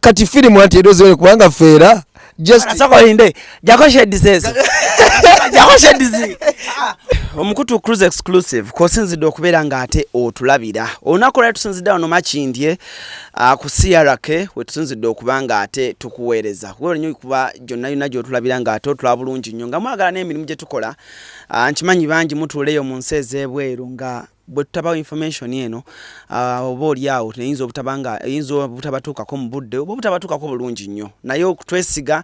kati firimu anti edozi wene kubanga feera jsokolinde jakoshedisezo jakoshedizi omukutu cruise exclusive kwosinzidde okubeera nga ate otulabira olunaku lwali tusinzidde wano makindye ah, ku crk wetusinzidde okuba nga ate tukuweereza kubalanyo kuba gyonna yonna gyotulabira nga ate otula bulungi nnyo nga mwagala n'emirimu gye tukola ah, nkimanyi bangi mutuuleyo mu nsi ez'ebweru nga Bwe tutabawa information eno oba oli awo eyinza obutaba nga eyinza obutabatuukako mu budde oba obutabatuukako bulungi nnyo naye okutwesiga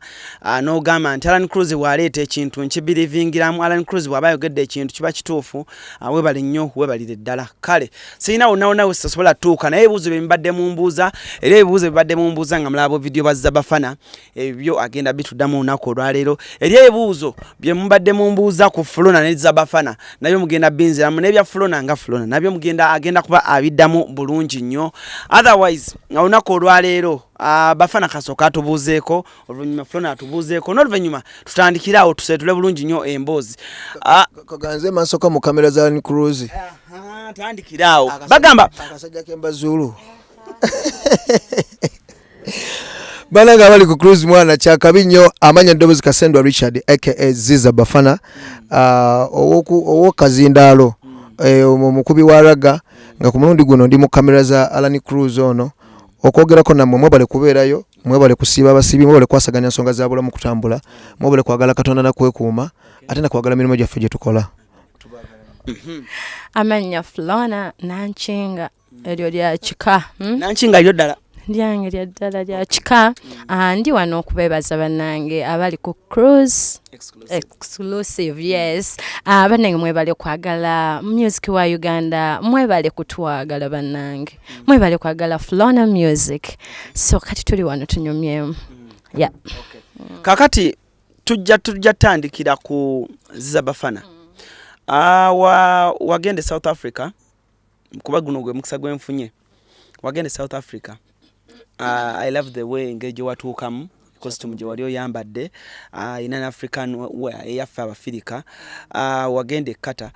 n'ogamba nti Alan Cruz bw'aleeta ekintu nkibirivingiramu Alan Cruz bw'aba ayogedde ekintu kiba kituufu webale nnyo webalire ddala kale sirina wonnawonna wesasobola tuuka naye ebibuuzo bye mbadde mumbuuza era ebibuuzo bibadde mumbuuza nga mulaba vidiyo bwa Zabafana ebyo agenda bitudamu olunaku olwaleero eri ebibuuzo bye mubadde mumbuuza ku fulona ne zabafana nabyo mugenda binziramu nebya fulona nga fulona nabyo mugenda agenda kuba abiddamu bulungi nnyo otherwise olunaku olwaleero Uh, bafana kasooka atubuuzeeko oluvannyuma fulona atubuuzeeko n'oluvannyuma tutandikire awo tuseetule bulungi nnyo emboozi ah, kaganze mansooka mu kamera za nicruise tandikire awo bagamba akasajja kembazuulu banange abali ku cruise mwana kyakabi nnyo amanya ddobozi kasendwa richard aka ziza bafana ah, owokazindaalo eh, omukubi wa raga nga ku mulundi guno ndi mu kamera za alani cruise ono okwogerako nammwe mwebale kubeerayo mwebale kusiiba abasibi mwebale kwasaganya nsonga za bulamu kutambula mwebale kwagala katonda nakwekuuma ate nakwagala mirimu gyaffe gye tukola mhm. amannya flona nankinga eryo lya kika hmm? nanki nga lyo ddala lyange lya ddala lya kika ah, ndi wano okubeebaza bannange abali ku cruise exclusive yes ah, bannange mwebale kwagala music wa uganda mwebale kutwagala bannange mm. mwebale kwagala flona music so kati tuli wano tunyumyemu mm. ya kakati tujja tujja tandikira ku zabafana mm. ah, wagenda e south africa kuba guno gwe mukisa gwe nfunye wagenda e south africa uh, i love the way engeri gye watuukamu costume gye wali oyambadde uh, in an african eyaffe abafirika uh, wagenda ekkata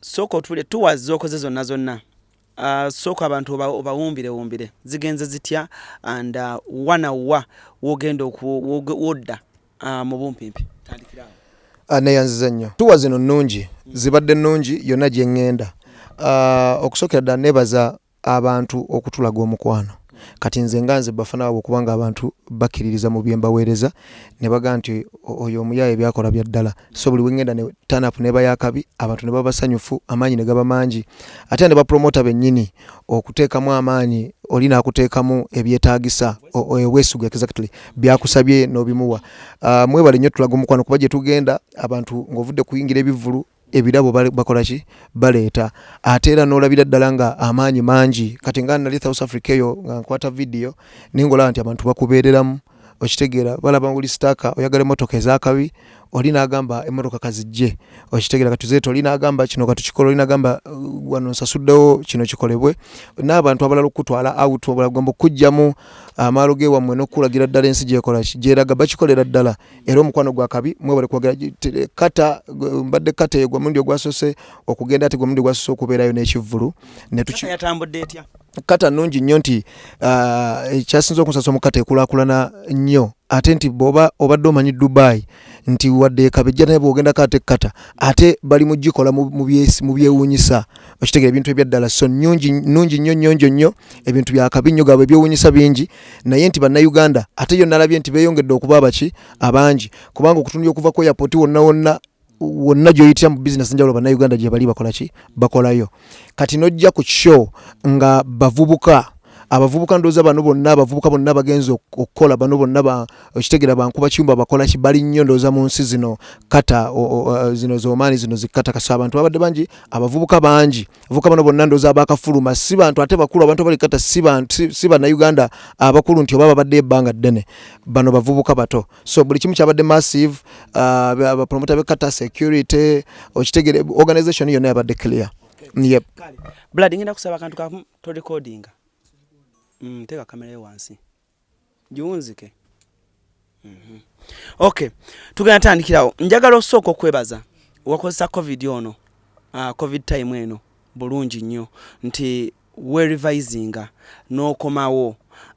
sooka otule tuwa zookoze zonna zonna Uh, sooka abantu obawumbirewumbire zigenze zitya and uh, wanawa wogenda wodda Ah, mu bumpimpi tandikira awo ah, neyanziza nnyo tuwa zino nnungi zibadde nnungi yonna gye ŋŋenda ah, okusookera ddala nebaza abantu okutulaga omukwano kati nze nga nze bafana wabwe okubanga abantu bakkiririza mu byembaweereza ne baga nti oyo omuyaaye byakola bya ddala so buli wengenda ne turn up neba yakabi abantu ne baba sanyufu amaanyi ne gaba mangi ate ne ba promoter benyini okutekamu amaanyi oli nakutekamu ebyetagisa wesuga exactly byakusabye no bimuwa uh, ah, mwe bali nyo tulago mukwano kuba je tugenda abantu ngovude kuingira ebivulu ebirabo bakola ki baleeta ate era n'olabira ddala nga amaanyi mangi kati nga nali south africa eyo nga nkwata vidiyo naye ngaolaba nti abantu bakubeereramu okitegeera balaba oli sitaaka oyagala emmotoka ez'akabi oli n'agamba emmotoka kazijje okitegeera katuzeeta oli n'agamba kino katukikola oli n'agamba uh, wano nsasuddewo kino kikolebwe n'abantu abalala okukutwala out obulagomba okukugyamu amaalo gewammwe n'okukulagira ddala ensi gyekola gyeraga bakikolera ddala era omukwano gwa kabi mwebale kuwagira kata mbadde kata eyo gwe mulundi ogwasose okugenda ate gwe mulundi ogwasose okubeerayo n'ekivvulu netuki yatambudde etya kata nungi nnyo nti ah, ekyasinza okunsasa omukata ekulakulana nnyo ate nti boba obadde omanyi dubai nti wadde ekabejja naye bwogendako ate kata ate bali mugikola mu byewunyisa okitegera ebintu ebyaddala so nyungi nungi nnyo nyonjo nnyo ebintu byakabi nnyo gabwe ebyewunyisa bingi naye nti bannayuganda ate yo nalabye nti beyongedde okuba abaki abangi kubanga okutunula okuva ku airpoti wonna wonna wonna gyoyitira mu bizinesi njawulo bannayuganda gyebali bakolaki bakolayo kati nojja ku show nga bavubuka abavubuka ndooza bano bonna abavubuka bonna bagenza okukola bano bonna okitegera bankuba kiyumba bakola ki bali nnyo ndooza mu nsi zino kata zino zomaani zino zikata kasa abantu babadde bangi abavubuka bangi abavubuka bano bonna ndooza abakafuluma si bantu ate bakulu abantu abali kata si bannayuganda abakulu nti oba babadde ebbanga ddene bano bavubuka bato so buli kimu kyabadde massive uh, abapromota uh, bekata security okitegere organization yonna yabadde clear okay. yep. blood ngenda kusaba akantu kamu to recordinga mm, teka kamera yo wansi giwunzike mm -hmm. okay tugenda tandikirawo njagala osooka okwebaza wakozesa covid ono uh, covid time eno bulungi nnyo nti we revisinga n'okomawo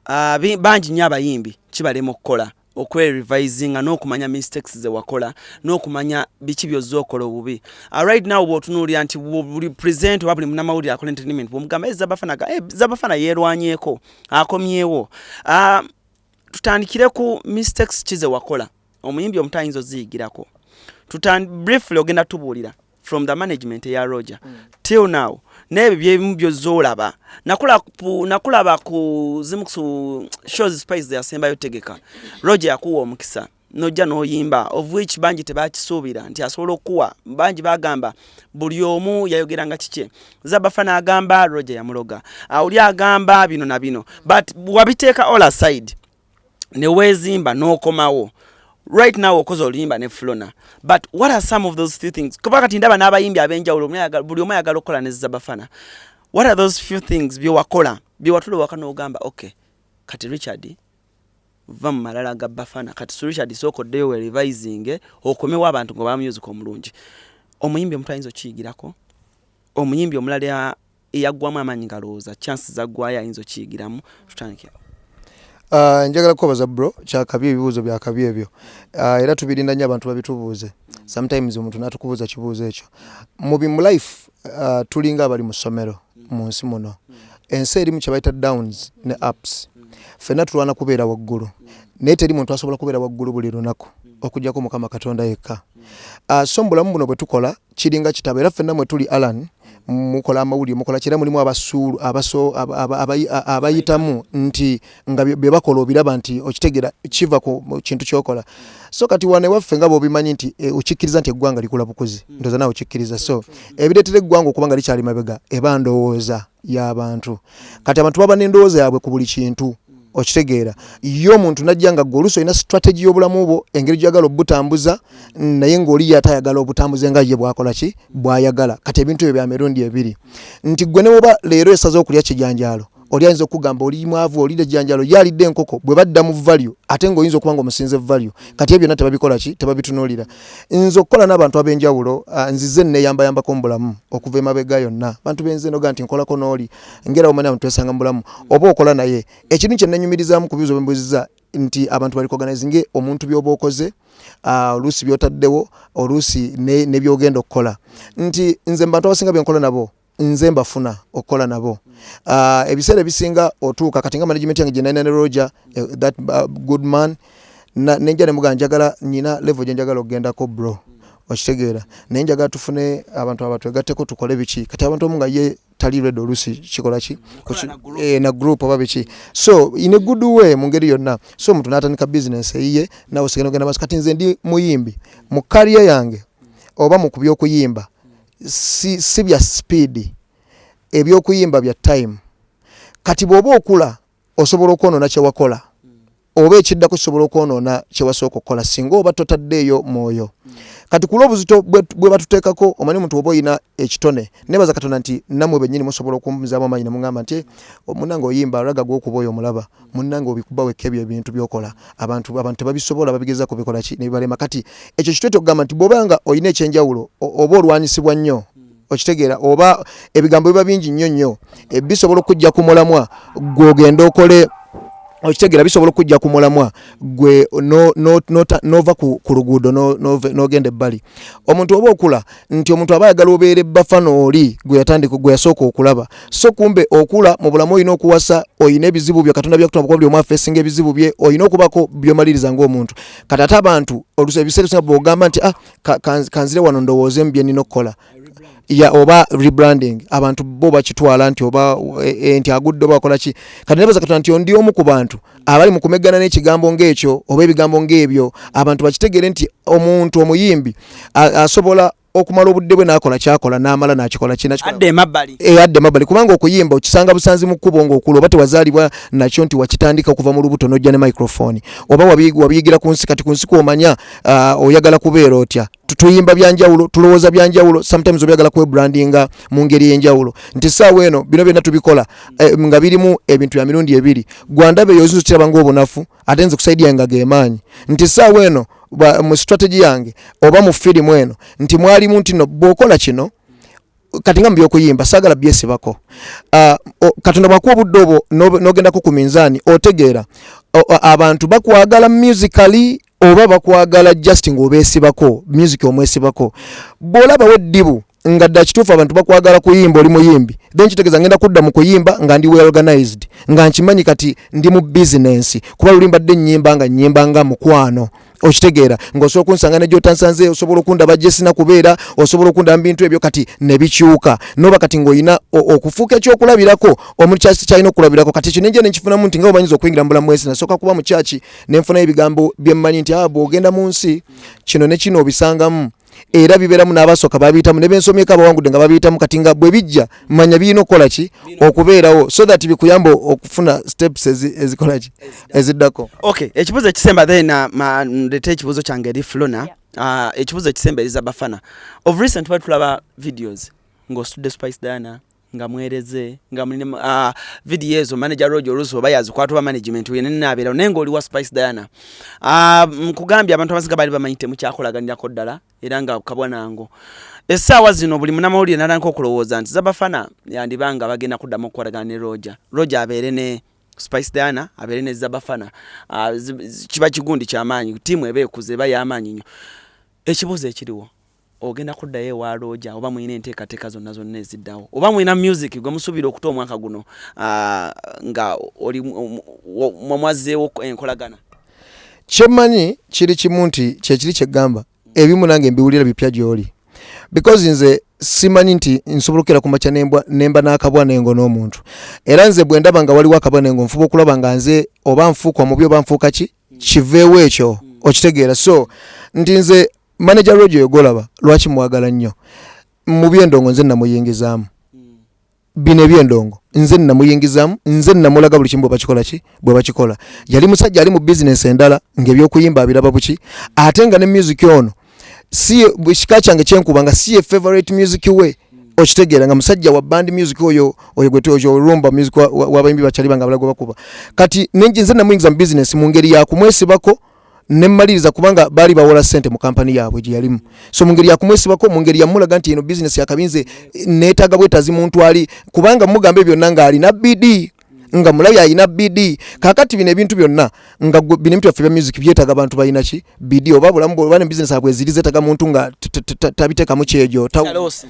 uh, bangi nnyo abayimbi kibalema okukola okwerevisinga n'okumanya mistakes ze wakola n'okumanya biki byozza okola obubi uh, right now bwotunuulira nti buli present oba buli munamawulire akola entertainment bwomugamba e eh, zabafana e zabafana yeerwanyeko akomyewo uh, tutandikire ku mistakes ki ze wakola omuyimbi omuto ayinza oziyigirako briefly ogenda tubuulira from the management ya roger mm. till now n'ebyo byebimu byozza olaba nakulaba ku zimu ku shows spice zeyasembayo tegeka roger yakuwa omukisa nojja noyimba of which bangi tebakisuubira nti asobola okukuwa bangi bagamba buli omu yayogera nga kikye zabafa n'agamba roger yamuloga auli agamba bino na bino but wabiteeka all aside newezimba nokomawo right now okoze oluyimba ne flona but what are some of those few things kuba kati ndaba n'abayimbi abenjawulo buli omu ayagala okukola ne zabafana what are those few things byewakola byewatula waka n'ogamba okay kati richard va mu malala ga bafana kati su richard sooka oddeyo we revising okomewo abantu nga bamusic omulungi omuyimbi omutu ayinza okiyigirako omuyimbi omulala eyaggwamu amaanyi ngalowooza chance zaggwayo ayinza okiyigiramu tutandike Uh, njagala kukobaza bro kyakabi ebibuuzo byakabi ebyo uh, era tubirinda nnyo abantu babitubuuze sometimes omuntu natukubuuza kibuuzo ekyo mubi mu life uh, tulinga abali mu ssomero mu nsi muno ensi erimu kyebayita downs ne apps fenna tulwana kubeera waggulu naye teri muntu asobola kubeera waggulu buli lunaku okujjako mukama katonda yekka uh, so mubulamu buno bwetukola kiringa kitabo era ffenna mwe tuli alan mukola amawulire mukola kyera mulimu abasuulu abaso abayitamu nti nga bye bakola obiraba nti okitegera kiva ku kintu kyokola so kati wane waffe nga bobimanyi nti e, okikkiriza nti eggwanga likula bukuzi hmm. ndoza nawe okikkiriza so ebireetera eggwanga okuba nga likyali mabega eba ndowooza yabantu kati abantu baba nendowooza yabwe ku buli kintu okitegeera ye omuntu najja nga gwe oluusi olina strategy y'obulamu bwo engeri gyagala obutambuza naye ngaoli ye atayagala obutambuze nga ye bwakola ki bwayagala kati ebintu ebyo bya mirundi ebiri nti gwe newoba leero esaza okulya kijanjaalo oli ayinza okugamba oli mwavu olira ejjanjalo yalidde enkoko bwe badda mu value ate ng'oyinza okuba nga omusinze value kati ebyo byonna tebabikola ki tebabitunulira nze okukola n'abantu ab'enjawulo ah, nzize neyambayambako mu bulamu okuva emabega yonna bantu benze noga nti nkolako n'oli ngera omanya abantu twesanga mu bulamu oba okola naye ekintu kye nnenyumirizaamu ku bibuzo bembuziza nti abantu bali koganizinge omuntu byoba okoze ah, oluusi byotaddewo oluusi nebyogenda okukola nti nze mu bantu abasinga byenkola nabo nze mbafuna okukola nabo uh, ebiseera ebisinga otuuka kati nga management yange gyenalina ne roger uh, that uh, good man nenja nemuga njagala nyina levo gyenjagala okugendako bro okitegeera naye njagala tufune abantu abatwegatteko tukole biki kati abantu omu nga ye tali red olusi kikola ki eh, na group oba biki so in a good way mu ngeri yonna so omuntu n'atandika bizinensi eyiye nawe osigenda ogenda maaso kati nze ndi muyimbi mu kariya yange oba mu ku by'okuyimba si, si bya sipiidi ebyokuyimba bya time kati bwoba okula osobola okwonoona kyewakola oba ekiddako kisobola okwonoona kyewasooka okukola singa oba totaddeeyo mwoyo kati kulwa obuzito bwe batuteekako omanyi omuntu oba olina ekitone nebaza katonda nti namwe bennyini musobola okumuzaamu amaanyi ne muŋamba nti omunange oyimba raga gwokuba oyo omulaba Munange obikuba wekka ebyo ebintu byokola abantu abantu tebabisobola babigeza kubikola ki nebibalema kati ekyo kitwete okugamba nti bwoba nga olina ekyenjawulo oba olwanyisibwa nnyo hmm. okitegeera oba ebigambo biba bingi nnyo nnyo eh, bisobola okujja ku mulamwa gwogenda okole okitegeera bisobola okujja ku mulamwa gwe nova ku luguudo n'ogenda ebbali omuntu oba okula nti omuntu aba ayagala obeere bafana oli gwe yatandika gwe yasooka okulaba so kumbe okula mu bulamu olina okuwasa olina ebizibu byo katonda byakutuma kuba buli omu afeesinga ebizibu bye olina okubaako byomaliriza ng'omuntu kati ate abantu ebiseera ebisinga bwogamba nti ah kanzire wano ndowoozeemu bye nnina okukola ya oba rebranding abantu bo bakitwala nti oba eh, eh, nti agudde oba akola ki kati nebaza katonda nti ondi omu ku bantu abali mu kumeggana n'ekigambo ng'ekyo oba ebigambo ng'ebyo abantu bakitegeere nti omuntu omuyimbi asobola okumala obudde bwe nakola kyakola namala nakikola kinaadde emabbali eh, kubanga okuyimba okisanga busanzi mu kkubo ngaokula oba tewazaalibwa nakyo nti wakitandika okuva mu lubuto nojja ne microfoni oba wabiyigira ku nsi kati ku nsi kwomanya ah, oyagala kubeera otya tuyimba byanjawulo tulowooza byanjawulo sometimes obyagala kwebrandinga mu ngeri ey'enjawulo nti saawa eno bino byonna tubikola eh, nga birimu ebintu bya mirundi ebiri gwandaba eyo ozinza okiraba ngaobunafu ate nze kusaidi yange ageemaanyi nti saawa eno mu strategy yange oba mu firimu eno nti mwalimu nti no bwokola kino kati nga mubyokuyimba sagala byesibako uh, ah, katonda bwakuwa obudde obwo nogendako ku minzaani otegeera abantu bakwagala musically oba bakwagala just ngaobesibako music omwesibako bwolabawo eddibu nga dda kituufu abantu bakwagala kuyimba oli muyimbi then kitegeeza ngenda kudda mu kuyimba nga ndi weorganized nga nkimanyi kati ndi mu bizinensi kuba luli mbadde nnyimba nga nnyimba nga mukwano okitegeera ngaosobola okunsanga negyotansanze osobola okundaba jesina kubeera osobola okundaba mubintu ebyo kati nebikyuka noba kati ngaolina okufuuka ekyokulabirako omuli kyaki kyalina okulabirako kati ekyo nenja nenkifunamu nti nga omanyiza okuyingira mubulamu bwensi nasooka kuba mukyaki nenfunayo ebigambo byemmanyi nti ah, bwogenda mu nsi kino nekino obisangamu era bibeeramu n'abasooka babiyitamu ne bensomyeko abawangudde nga babiyitamu kati nga bwe bijja manya birina okukola ki okubeerawo so that bikuyamba okufuna steps ezikola ki eziddako okay ekibuzo ekisemba then uh, ndeta ekibuzo kyange eri flona uh, ekibuzo ekisemba eriza bafana of recent twali tulaba videos ng'ositudde spice diana nga mwereze nga muli uh, ah, video ezo manager roge olusi oba yazikwata oba management wene nabeerawo naye ngaoli wa spice diana ah, nkugambye abantu abasinga baali bamanyi temukyakolaganirako ddala era nga kabwanango essaawa zino buli munamawulire nalanka okulowooza nti zabafana yandiba nga bagenda kuddamu okukolagana ne roger roger abeere ne spice diana abeere ne zabafana ah, kiba kigundi kyamaanyi tiimu eba ekuze eba yamaanyi nyo ekibuuzo ekiriwo Ogenda kuddayo ewa Looja oba mulina enteekateeka zonna zonna eziddawo? Oba mulina myuziki gwe musuubira okuta omwaka guno nga oli mwazzeewo enkolagana? Kye mmanyi kiri kimu nti kye kiri kye ggamba ebimu nange mbiwulira bipya gy'oli because nze simanyi nti nsobola okukera ku makya nemba n'akabwa nengo n'omuntu era nze bwe ndaba nga waliwo akabwa nengo nfuba okulaba nga nze oba nfuuka omubi oba nfuuka ki kiveewo ekyo okitegeera so nti nze manager rojo yogolaba lwaki mwagala nnyo mu byendongo nze namuyingizaamu bino ebyendongo nze namuyingizamu nze namulaga buli kimu bwebakikola ki bwebakikola yali musajja ali mu bizinesi endala ngaebyokuyimba abiraba buki ate nga ne music ono si kika kyange kyenkuba nga si ye favorite music we okitegeera nga musajja wa band music oyo oyo gwe toyo olumba music wabayimbi bakyali banga balago bakuba kati ninji nze namuyingiza mu business mu ngeri ya kumwesibako nemmaliriza kubanga baali bawola sente mu kampani yaabwe gye yalimu so mu ngeri yakumwesibako mu ngeri yamulaga nti eno bizinesi yakabinze neetaaga bwetazi muntu ali kubanga mugamba ebyo byonna ng'alina bidi nga mulabi alina bd kakati bino ebintu byonna nga bino ebintu byaffe bya music byetaaga bantu balina ki bd oba bulamu bwoba ne bizinesi abwe ziri zeetaaga muntu nga tabiteekamu kyejo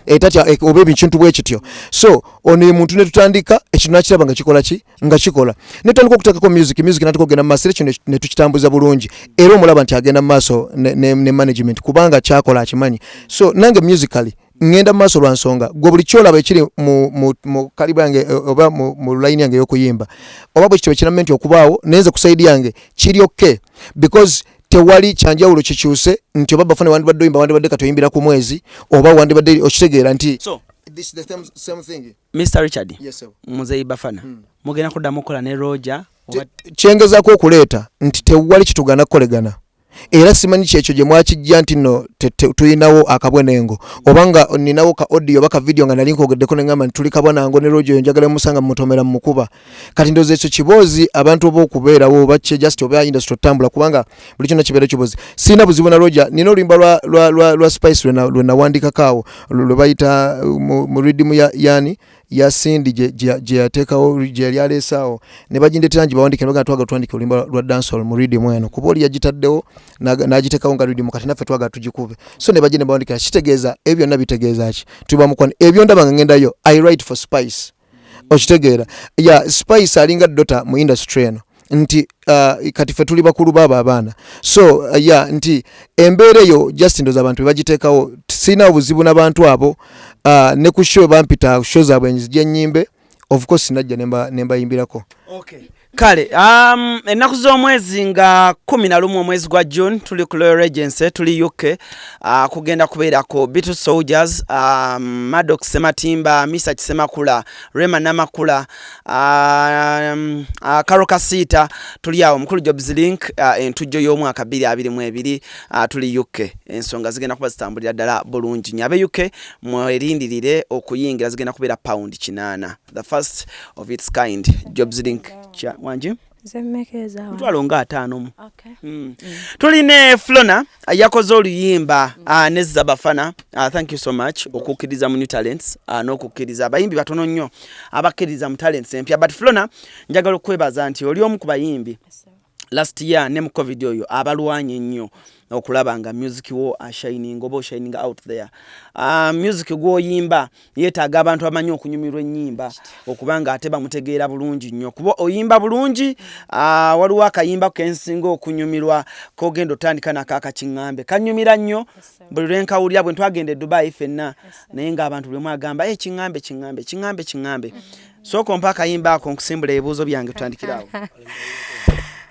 etatya eh, eh, oba ebikintu bwe kityo so ono ye muntu ne tutandika ekintu nakiraba nga kikola ki nga kikola ne tutandika okuteekako music music natuka okugenda mu maaso era kino ne tukitambuza bulungi era omulaba nti agenda mu maaso ne management kubanga kyakola akimanyi so nange musically ngenda mu maaso lwa nsonga gwe buli kyolaba ekiri mu kaliba yange e, oba mu layini yange ey'okuyimba oba bwe kityo ekiramu nti okubaawo naye nze ku sayidi yange kiri okke because tewali kyanjawulo kikyuse nti oba bafune wandibadde oyimba wandibadde kati oyimbira ku mwezi oba wandibadde okitegeera nti mr richard muzeyi bafana hmm. mugenda kuddamu okukola ne roja kyengezako okuleeta nti tewali kitugana kukolegana era simanyi kyekyo gye mwakijja nti no tulinawo akabwenengo oba nga ninawo ka audio oba ka video nga nali nkogeddeko ne ngamba nti tuli kabwanango ne rojo oyo njagala musanga mumutomera mumukuba kati ndowooza ekyo kiboozi abantu oba okubeerawo oba kye just oba industry otambula kubanga buli kyonna kibeera kiboozi sirina buzibu na roja nina oluyimba lwa, lwa, lwa, lwa spice lwe nawandiikako awo lwe bayita mu, mu ridimu ya, yani ya Cindy gye yateekawo gye yali aleesaawo ne bagindeetera ngi bawandiike nebagana twagala tuwandike oluyimba lwa dancehall mu ridium eno kuba oli yagitaddewo n'agiteekawo nga ridium kati naffe twagala tugikube so ne bagenda bawandikira kitegeeza ebyo byonna bitegeeza ki tuli bamukwano ebyo ndaba nga ngendayo i write for spice okitegeera ya spice alinga dota mu industry eno nti uh, kati fe tuli bakulu baba abaana so uh, ya yeah, nti embeera eyo just ndoza abantu bebagiteekawo sirina obuzibu nabantu abo uh, ne ku show bampita show zaabwe nzija enyimbe of course najja nembayimbirako okay. kale um, ennaku z'omwezi nga kumi na lumu omwezi gwa june tuli ku loyal regency tuli uk uh, kugenda kubeerako bitu soldiers um, madox sematimba misa kisemakula rema namakula Um, uh, karo kasiita tuli awo mukulu jobs link uh, entujjo y'omwaka 22 uh, tuli uk ensonga zigenda kuba zitambulira ddala bulungi nyo abe uk mwerindirire okuyingira zigenda kubeera pound 8 the first of its kind jobs link wangi mutwalo nga ataano mu okay. mm. mm. tuli ne flona yakoze oluyimba mm. uh, ne zabafana uh, thank you so much okukkiriza mu new talents uh, n'okukkiriza abayimbi batono nnyo abakkiriza mu talents empya but flona njagala okukwebaza nti oli omu ku bayimbi last year ne mu covid oyo abalwanye ennyo okulaba nga music wo ashining oba oshining out there uh, music gwoyimba yetaaga abantu amanyi okunyumirwa enyimba okubanga ate bamutegeera bulungi nnyo kuba oyimba bulungi uh, waliwo akayimba kensinga okunyumirwa kogenda otandika nako akakiŋambe kanyumira nnyo buli lwenkawulira bwe ntwagenda edubayi fenna naye ngaabantu buli mwagamba e eh, kiŋambe kiŋambe kiŋambe kiŋambe mm-hmm. sooka ompa akayimba ako nkusimbula ebibuuzo byange tutandikirawo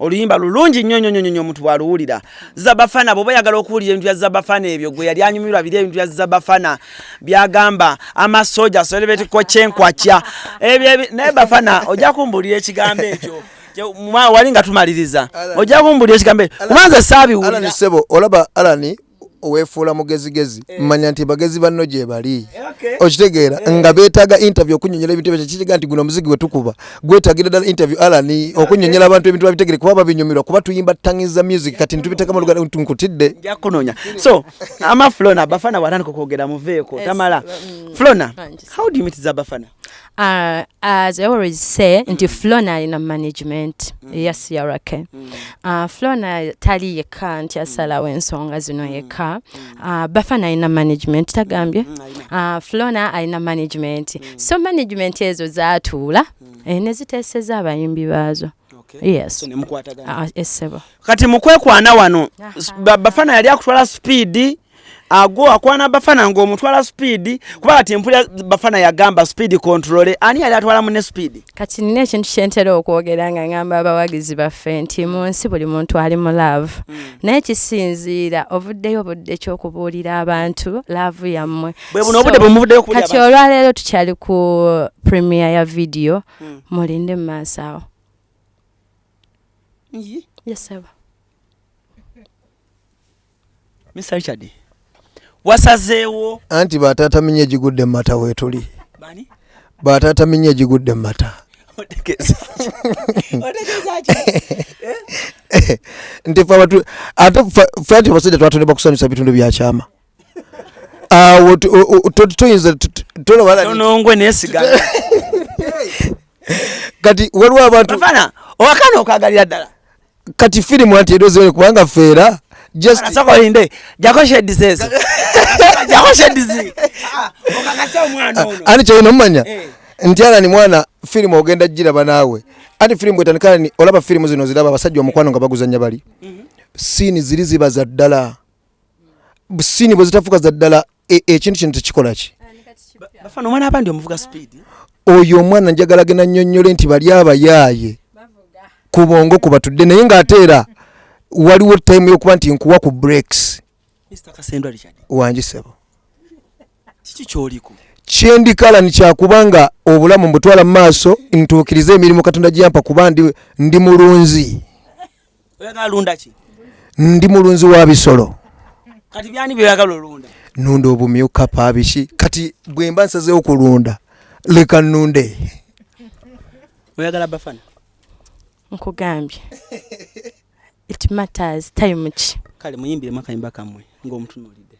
oluyimba lulungi nnyo nnyo nnyo omuntu bw'aluwulira zabafana bw'oba oyagala okuwulira ebintu bya zabafana ebyo gwe yali anyumirwa biri ebintu bya zabafana byagamba amasooja solebetikwa kyenkwakya ebyo naye bafana ojja kumbuulira ekigambo ekyo wali nga tumaliriza ojja kumbuulira ekigambo ekyo kubanza saabiwulira olaba alani wefuula mugezigezi eh. manya nti bagezi banno gyebali okitegeera eh. nga betaaga interview okunyonyola ebintu ebyo kiriga nti guno omuzigi wetukuba gwetagira ddala interview alan okunyonyola abantu ebintu babitegere kuba babinyumirwa kuba tuyimba tangiza music kati ntubitekamu luganda nkutidde njakunonya so ama flona bafana waraniko kwogera muveeko eh, tamala mm. flona how do you meet zabafana Uh, as I always say nti mm. Flona alina management mm. eya CRK mm. uh, Flona tali yekka nti asalawo ensonga zino yekka uh, Bafana alina management tagambye uh, Flona alina management so management ezo zatuula eh, ne ziteeseza abayimbi baazo yes ah, kati mukwekwana wano Bafana yali akutwala speed agwo akwana bafana ngo mutwala speed kuba ati mpulira bafana yagamba speed control ani yali atwala mu ne speed kati nne ekintu kyentera okwogera nga ngamba abawagizi baffe nti mu nsi buli muntu ali mu love mm. naye kisinziira ovuddeyo obudde ekyokubuulira abantu laavu yammwe kati olwaleero tukyali ku premier ya vidiyo mm. mulinde mu maaso awo yesaba Mr. Richard wasazeewo anti bataata minya egigudde mumata wetuli bataata minya egigudde mumata eh? nti ate fe nti abasajja twatondebwa kusanyusa bitundu byakyama awo toyinza tonongwe nesigala kati waliwo abantu owakana okagalira ddala kati firimu anti edo ziwere kubanga feera jsakolinde jakoshedisezo jakoshedizi okakase omwana ono ani kyolina omumanya eh. nti alani mwana firimu ogenda giraba naawe anti firimu bwetandikala ni olaba firimu zino ziraba abasajja omukwano nga baguzanya bali mhm. siini ziri ziba za ddala sini bwezitafuka za ddala e, ekintu kino tekikolaki bafana omwana abandi omuvuga speed oyo omwana njagala gena nyonyole nti bali abayaaye ku bongo ku batudde naye ng'ate era waliwo time yokuba nti nkuwa ku breaks wangi sebo kiki kyoliko kyendikala nikyakuba nga obulamu mbutwala mu maaso ntuukirize emirimu katonda gyampa kuba ndi mulunzi oyagala lunda ki ndi mulunzi wa bisolo kati byani byoyagala olunda nunda obumyuka pabiki kati bwemba nsazewo kulunda leka nunde oyagala bafana nkugambye it matters time ki kale muyimbiremu akayimba kamwe ng'omutunuulidde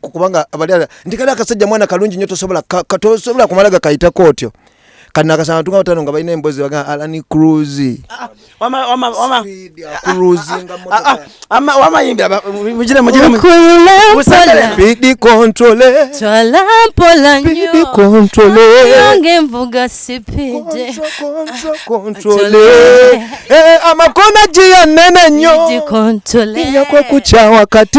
kubanga abalala nti kali akasajja mwana kalungi nyo tosobola tosobola kumala gakayita kotyo kati nakasanga tunga batano nga balina embozi baga alani cruise ah, amakona jiya nene nyo yakokukya wakati